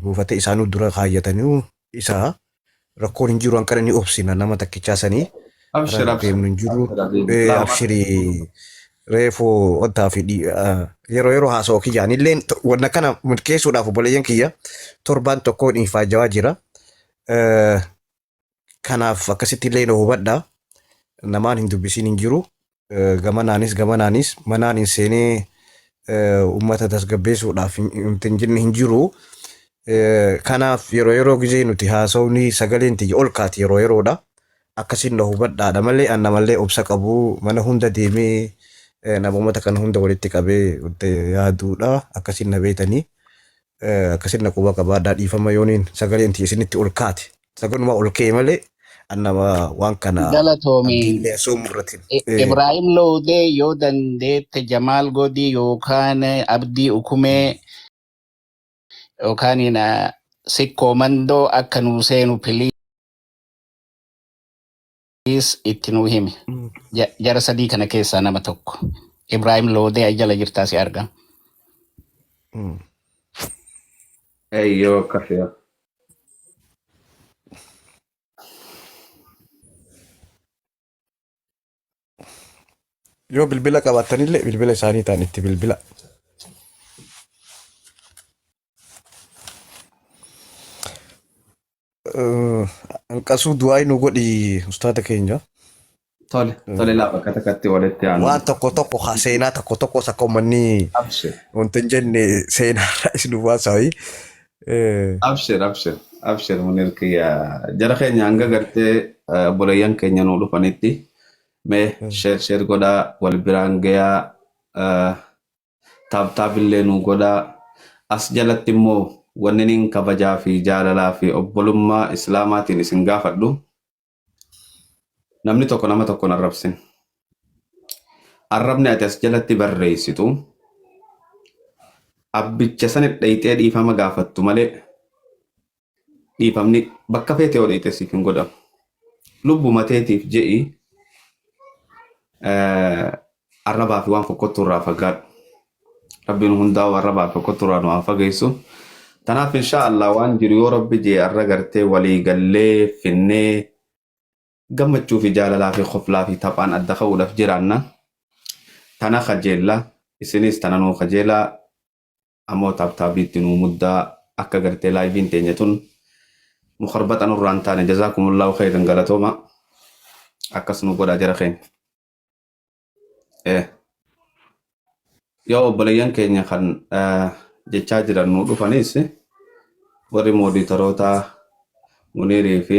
buufata isaanuu dura kaayyatanii isaa rakkoon hin jiru hanqina ni obsina nama takkichaa sanii Abshir, irra abshir. deemnu hin jiru Abshir, abshir. Eh, Lama. abshirii reefuu wantaa fi dhi- ah, yeroo yeroo haasa'u kiyyaan illeen to- wanna kana milkeessuudhaaf obboleeyyan kiyya torbaan tokkoon ifaajawaa jira Eh, Kanaaf akkasitti illee na hubadha. Namaan hin dubbisiin hin jiru. Gamanaanis gamanaanis manaan hin seenee uummata tasgabbeessuudhaaf hin jenne hin jiru. Kanaaf yeroo yeroo gizee nuti haasawni sagaleen tiyya ol kaati yeroo yeroodha. Akkasiin na hubadhaadha malee an namallee obsa qabu mana hunda deemee nama uummata kana hunda walitti qabee yaaduudha akkasiin na beetanii. Akkasit na quba qabaadhaa dhiifama yooniin sagaleen tiyya isinitti ol kaate. Saganuma ol ka'e malee an nama waan kana Galatoomi. abdiillee soomuu irratti. I- Eh, Ibrahim Loodee yoo dandeette Jamaal Godii yookaan Abdii Ukumee yookaan ina Sikkoo Mandoo akka nuu seenu pilii. Please itti nuu himi. Ja- Jara sadii kana keessaa nama tokko. Ibrahim Loodee ay jala jirtaa si arga. Eeyyoo kafeera. Yoo bilbila qabaattanillee bilbila isaanii ta'an itti bilbila. Anqasuu du'aayi nu godhi ustaada keenya. Tole, tole laa bakka takkatti walitti aanu. Waan tokko tokko haa seenaa tokko tokkos akka uummanni Abshir, wanti hin jenne seenaa irraa isin hubaasaa wayii. abshir, abshir, abshir munir kiyya. Jara keenya hanga gartee eh, obboleeyyan keenya nuu dhufanitti mee sheer sheer godhaa wal biraan gayaa eh, Tap tap illee nuu godhaa. As jalatti immoo wanninin kabajaa fi jaalalaa fi obbolummaa Islaamaatiin isin gaafadhu namni tokko nama tokko hin arrabsin. Arrabni ati as jalatti barreessitu abbicha sanit dhayxee dhiifama gaafattu malee dhiifamni bakka feete yoo dheeyte siif hin godhamu. Lubbuma teetiif je'i eh, arrabaa fi waan fokkottuu irraa fagaadhu. Rabbiin hundaa'u arrabaa fi fokkottuu irraa nu haa fageessu. Tanaaf inshaa Allah waan jiru yoo Rabbi jee arra gartee walii gallee finnee gammachuu fi jaalalaa fi koflaa fi taphaan adda ka'uudhaaf jiraanna. Tana kajeella isinis tana nuu kajeelaa Amoo tap tap itti nuu muddaa akka gartee live'n teenya tun mukarbaxa nurraa hin taane jazaakumullaahu khayran galatooma akkas nuu godhaa jara keenya. Eh. Yoo obboleeyyan keenya kan eh, jechaa jiran nuu dhufanis warri mooditarootaa Muniirii fi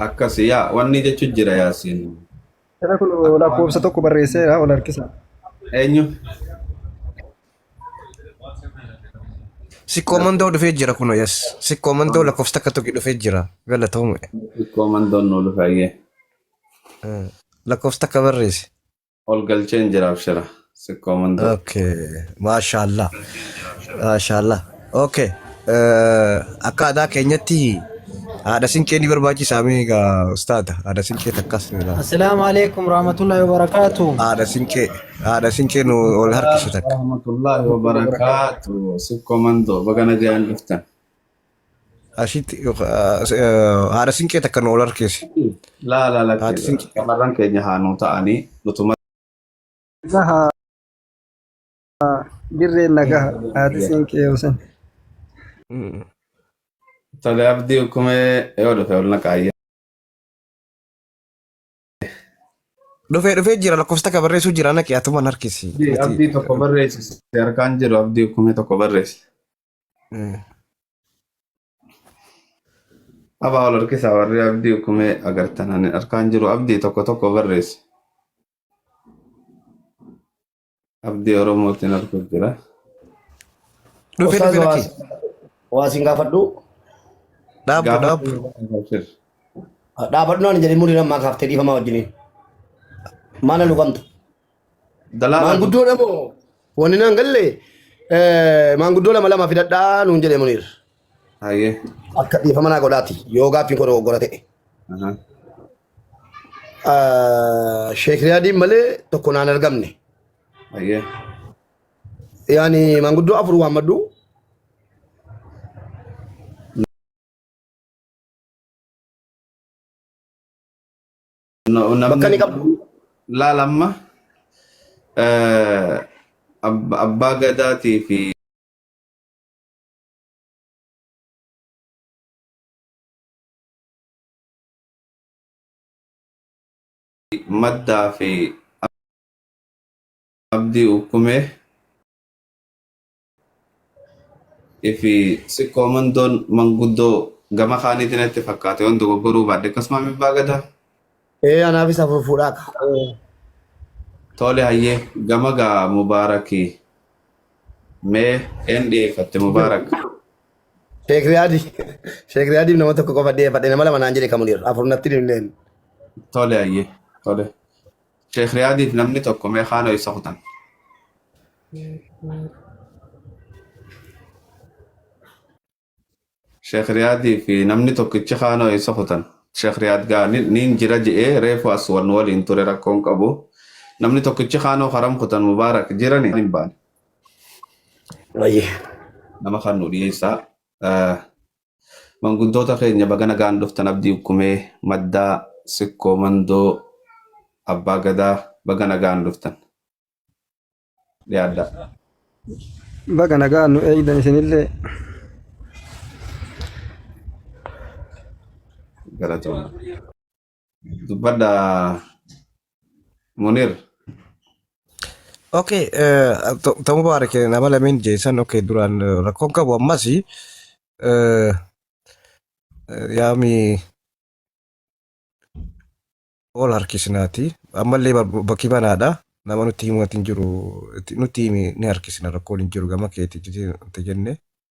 Akkasi yaa wanni jechu jira yaasin. Jara kun lakkoofsa tokko barreesseera ol harkisa. Eenyu? Sikkoo mandoo dhufee jira kuno yes. Sikkoo mandoo lakkoofsa takka tokko dhufee jira. Galatoomi. Komandoon nu dhufayyee. Lakkoofsa takka barreessi. Ol galcheen jira abshira. Sikkoo mandoo. Okay. Maashaallah. Maashaallah. Okay. Eh, Akka aadaa keenyatti haadha sinqee ni barbaachisaa mee egaa ustaada haadha sinqee takkas ni ilaala. Assalaamu alaikum warahmatullahi wabarakatuh. Haadha sinqee haadha sinqee nu ol harkisu takka. Rahmatullahi wa barakaatu. Sikkoo mandoo. Baga nagaan dhuftan. Ashitti haadha sinqee takka nu ol harkeesse. Laa laa Haati lakkee sinqee. shamarran keenya haa nuu ta'anii nutuma Gaha dirreen nagaha haati siinqee yoo san. tole abdii kumee yoo dhufe ol naqaayya. Dhufee dhufee jira lakkoofsa takka barreessuu jira naqi atumaan harkisi. Abdii tokko barreessi harkaan jiru abdii kumee tokko barreessi. Abaa ol harkisaa warri abdii kumee agartan ani harkaan jiru abdii tokko tokko barreessi. Abdii Oromootiin arguu jira. Dhufe dhufe Ustaaz lakki. waa siin gaafadhu. Dhaabbu dhaabbu. Gaafachuu Dhaabadhu naan jedhee murii namaa kaaftee dhiifamaa wajjiniin. Maana lugamta. Dalaala Maanguddoodha moo wanni naan galle eh, maanguddoo lama lama fidadhaa nuun jedhe Muniir. Hayyee. Akka dhiifama naa godhaati yoo gaaffiin koo dogoggora ta'e. Aha. Ah, Sheek Riyaadiin malee tokko naan argamne. Hayyee. Yaani maanguddoo afur waammadhu. Bakka ni qabu. Laal amma abbaa gadaatii fi maddaa fi abdii ukkumee Ifi sikkoo mandoon manguddoo gama kaaniiti natti fakkaate yoon dogoggoruu baadhe akkasuma mibbaa gadaa. Ee anaafis afur fuudhaa ka. Tole hayyee gama gaa mubaarakii mee een dhiyeeffatte mubaarak. Sheek Riyaadi. Sheek Riyaadiif nama tokko qofa dhiyeeffadhe nama lama naan jedhe kamunir afur natti hin himneen. Tole hayyee tole. Sheekh Riyaadiif namni tokko mee kaan ho'isa kutan. Sheekh Riyaadiif namni tokkichi kaan ho'isa kutan. Sheekh Riyaad gaa ni- niin jira je'ee reefu as wan waliin ture rakkoon qabu. Namni tokkichi kaanoo haram kutan mubaarak jirani hin baane. Wayyee. Nama kan nu dhiyeessaa. Eh, Manguddoota keenya baga nagaan dhuftan Abdii Ukkumee, Maddaa, Sikkoo, Mandoo, Abbaa Gadaa baga nagaan dhuftan. Dhiyaadhaa. Baga nagaan nu eegdan isinillee. Galatooma. dubbadha munir Okay, eh, to- to Mubarak eh, nama lamin jeesan okay duraan eh, rakkoon qabu ammas eh, eh, yaami ol harkisnaati ammallee bar- bakki banaadha nama nutti himu hin jiru itti- nutti himi ni harkisna rakkoon hin jiru gama keetti jete- nutti jenne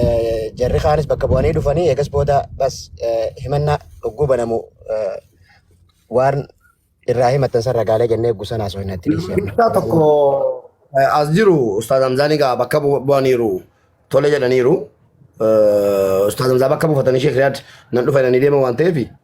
Eh, Jarri kaanis bakka bu'anii dhufanii eegas booda bas eh, himannaa dhukkuu banamu eh, waan irraa himatan san ragaalee jennee gusan haasoo hin natti dhiisee. Isaa tokko eh, as jiru Ustaaz Hamzaan egaa bakka bu- bu'aniiru tole jedhaniiru. Eh, Ustaaz Hamzaa bakka buufatanii Sheekh Riyaad nan dhufa jedhanii deeman waan ta'eef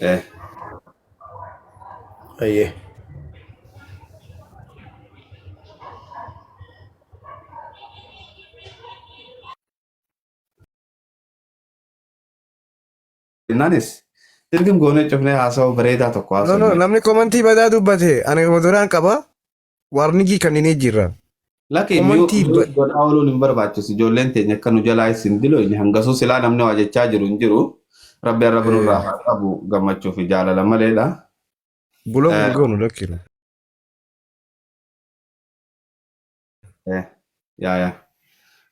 Eh, Ayyee. Innaanis dirqim goonee cufnee haasawaa bareedaa tokko No, no, haasawaa. namni komantii badaa dubbate ani duraan qaba. Waarnigii kanninee jirra. Laki mute Komantii mute ba- godhaa ooluun hin barbaachisu ijoolleen teenya akka nu jalaa is hin diloyne hangasuu silaa namni waa jechaa jiru hin jiru rabbi arra Eh, birurraa haa qabu gammachuu fi jaalala maleedha. Bulog Eh, hin goonu lakkiru. eh, yaa yaa.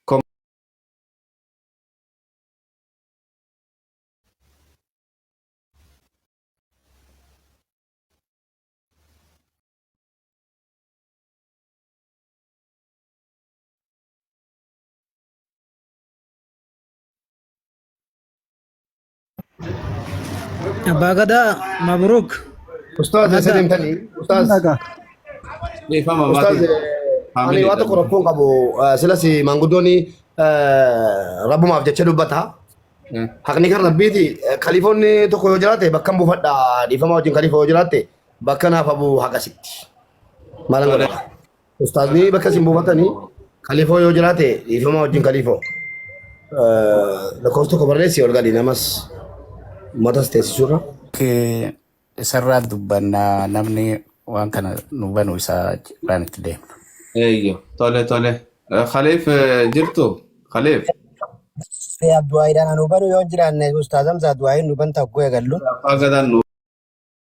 Kom- Abbaa Gadaa Mabruuk. Ustaaz eessa Nagaa. deemtanii? Ustaaz Nagaa. Dhiifama Ustaaz maatii. ani waan tokko rakkoo hin qabu Eh, silas maanguddooni rabbumaaf jecha dubbata. Haqni kan rabbiiti Eh, kalifoonni tokko yoo jiraate bakka hin buufadha dhiifama wajjin kalifoo yoo jiraate Bakka naaf abuu haqa sitti. Maalan Tole. godhata? Ustaazni bakka isin buufatanii kaliifoo yoo jiraate dhiifama wajjin kaliifoo. Lakkoofsa tokko barreessi ol gadi namas matas teessisurra. Kee isarraa dubbannaa namni waan kana nu banu isaa irraan itti deema. Eeyyo. Tole tole. Eh, Khaliif eh, jirtu? Khaliif. Ee Abduwaayiidhaan anu banu yoo hin jiraanne Ustaaz Hamzaa Abduwaayiin nu banta hogguu eegallu. Abbaa gadaan nu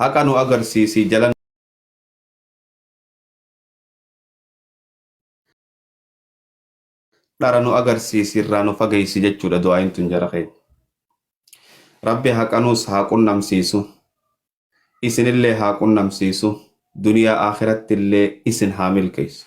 Haqa nu agarsiisi jala nu. dhara nu agarsiisi irraa nu fageessi jechuudha du'aayin tun jara keenya. Rabbi haqa nuus haa qunnamsiisu. Isinillee haa qunnamsiisu. Duniyaa akhiratti illee isin haa milkeessu.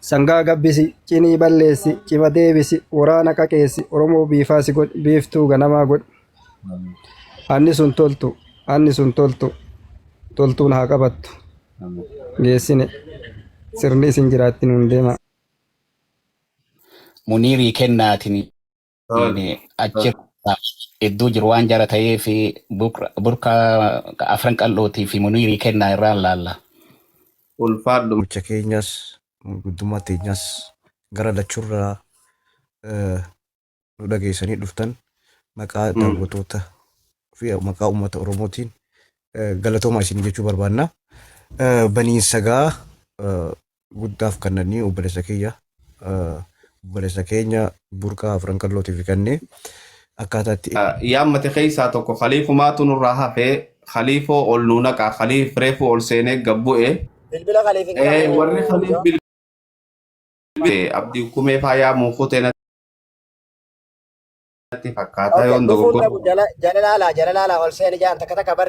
Sangaa gabbisi, cinii balleessi, cima deebisi, waraana qaqeessi, Oromoo biifaasi godhi, biiftuu ganamaa godhi. Anni sun toltu, anni sun toltu, toltuun haa qabattu. Geessine, sirni isin jiraattin hundeema. Muniirii Kennaatiin Tole, Inni achi tole. iddoo jiru waan jara ta'ee fi burka afran qal'ootii fi muniirii kennaa irraan laalla. Ulfaadhu. Gocha keenyas guddummaa teenyas gara lachurraa eh, nu dhageessanii dhuftan maqaa Mm. daawwatoota fi maqaa uummata Oromootiin eh, galatoomaa isin jechuu barbaanna. Eh, Baniinsagaa eh, guddaaf kannanii obbolessa kiyya obbolessa keenya burqaa afran qallootiif kannee akkaataa itti yaammate keessaa tokko khaliifumaatu nurraa hafe khaliifoo ol nuu naqaa khaliif reefuu ol seenee gabbu'e Bilbila kaliif hin ee qabu. warri khaliif bil abdii kumee faa yaamuu kutee natti fakkaata Okay, yoon dhufuun dogoggora dhabu jala jala laalaa jala laalaa ol seeni jaan takka takka bar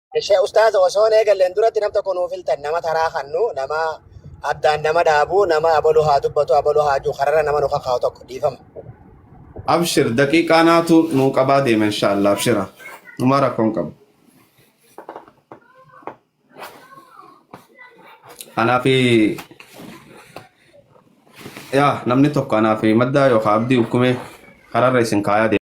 Ishee ustaaza osoo hin eegalleen duratti nam tokko nuuf filtan nama taraa kannu nama addaan nama dhaabu nama abaluu haa dubbatu abaluu haa jiru kararra nama nu kakaa'u tokko dhiifama. Abshir daqiiqaa naatu nuu qabaa deema inshaallah abshira. Numaa rakkoon qabu. Anaa fi yaa namni tokko anaa fi maddaa yookaan abdii ukkumee kararra isin kaayaa deema.